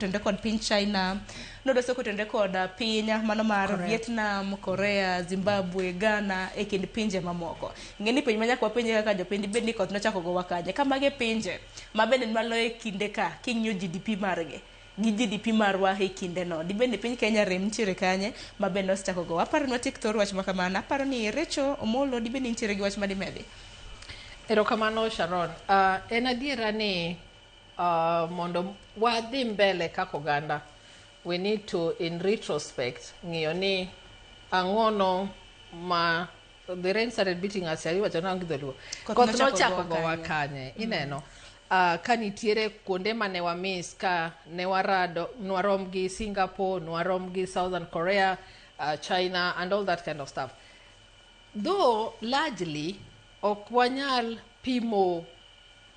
tenre kod piny China, nodo soko tenre kod uh, piny uh, mano mar Correct. Vietnam, Korea, Zimbabwe, Ghana e kind pinje mamoko. Ng'e ni piny ma nyaka wapenje kaka jopiny bed ni koth nochako gowa kanye. Ka mage pinje ma bende malo e kinde ka king'iyo GDP margi gi GDP marwa e kinde no. Dibed ni piny Kenya rem nitiere kanye ma bende osechako gowa. Aparo ni watiek thor wach ma kamano. Aparo ni Recho Omolo dibed ni nitiere gi wach ma dimedi. Erokamano Sharon. Uh, en adiera ni Uh, mondo wadhi mbele kaka oganda we need to in retrospect ng'iyo ni ang'ono ma the rain started beating us yari wacho nangi dholuo Koth koth nochako nochako gowa gowa kanye. kanye ineno uh, ka nitiere kuonde ma ne wamis ka ne warado nwarom gi singapore nwarom gi southern korea uh, china and all that kind of stuff though largely Ok wanyal pimo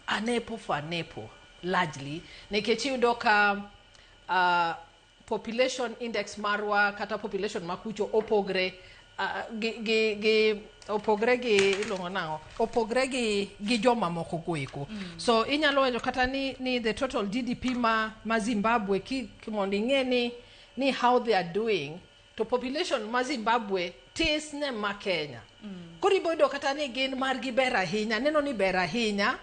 anepo for anepo largely nikech iyudo ka uh, population index marwa kata population ma kucho opogre uh, gi, gi, gi opogre gi iluongo nang'o opogre gi, gi jomamoko goeko mm. so inyalo wacho kata ni, ni the total gdp ma, ma zimbabwe ki, mondo ing'e ni, ni how they are doing to population ma Zimbabwe tis ne ma Kenya. Mm. Koro iboyudo kata ni gin margi ber ahinya, neno ni ber ahinya,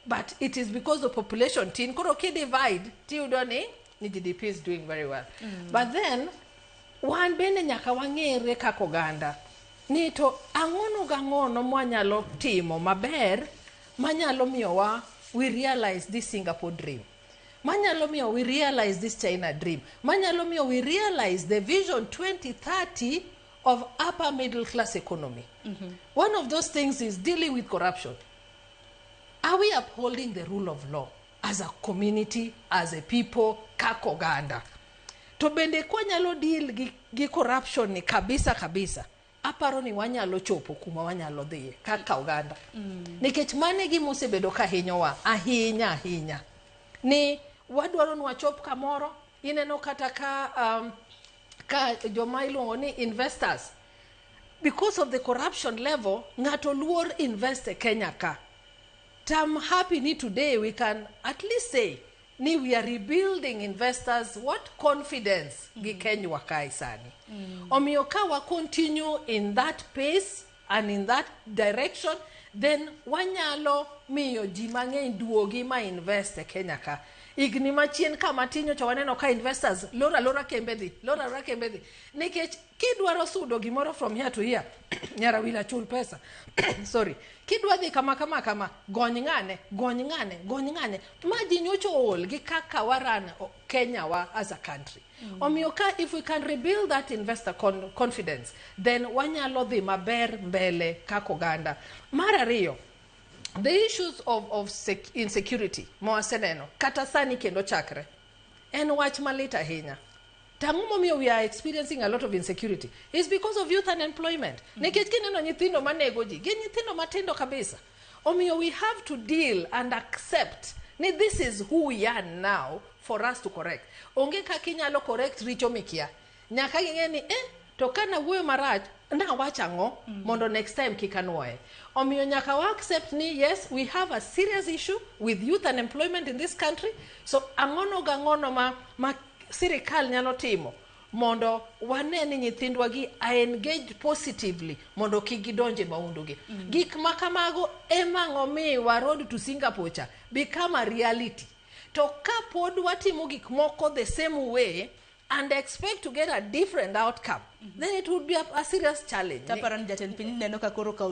but it is because the population tin. Koro ki divide, tiyudo ni ni GDP is doing very well. Mm. But then, wan bende nyaka wang'ere kaka oganda ni to ang'ono gang'ono mwanyalo timo maber manyalo miyowa we realize this Singapore dream. manyalo miyo we realize this China dream, manyalo miyo we realize the vision 2030 of upper middle class economy. Mm -hmm. One of those things is dealing with corruption. Are we upholding the rule of law as a community, as a people, kaka oganda? To bende kwanyalo deal gi, gi corruption ni kabisa kabisa, aparo ni wanyalo chopo kuma wanyalo dhiye kaka oganda nikech mano e gima osebedo ka hinyowa ahinya ahinya ni wadwaro ni wachop kamoro ineno kata ka um, ka joma iluongo ni investors because of the corruption level ng'ato luor invest e kenya ka tam happy ni today we can at least say ni we are rebuilding investors what confidence mm. gi kenywa kae sani mm. omiyo ka wa continue in that pace and in that direction then wanyalo miyo ji mang'eny duogi ma invest e kenya ka higni machien ka matin nyocha waneno ka investors lora lora kembe dhi lora lora kembe dhi nikech Kidwaro sudo gimoro from here to here, nyar Awila chul pesa. Sorry. Kidwa dhi kama kama kama, gony ng'ane, gony ng'ane, gony ng'ane. Ma ji nyocha ool gi kaka waran o- Kenya wa as a country. Omiyo ka if we can rebuild that investor con confidence, then wanyalo dhi maber mbele kaka oganda. Mar ariyo, the issues of, of sec insecurity mawaseneno kata sani kendo chakre En wach malit ahinya. To ang'o momiyo we are experiencing a lot of insecurity? It's because of youth unemployment. Nikech kineno nyithindo manego ji, gin nyithindo matindo kabisa. Omiyo we have to deal and accept ni this is who we are now for us to correct. Onge kaka inyalo correct richo mikia. Nyaka ging'e ni, eh, to ka nawuoyo marach, nawacho ang'o mondo next time kik anwoye. Omiyo nyaka wa accept ni yes, we have a serious issue with youth unemployment in this country. So ang'ono ga ng'ono ma, ma sirikal nyalo timo mondo wane ni nyithindwa gi are engaged positively mondo kik gidonje maundu gi. Gik ma kamago ema ng'omiwa road to Singapore cha become a reality. To ka pod watimo gik moko the same way, and expect to get a different outcome, then it would be a, a serious challenge. Taparan jatend piny neno ka koro kaw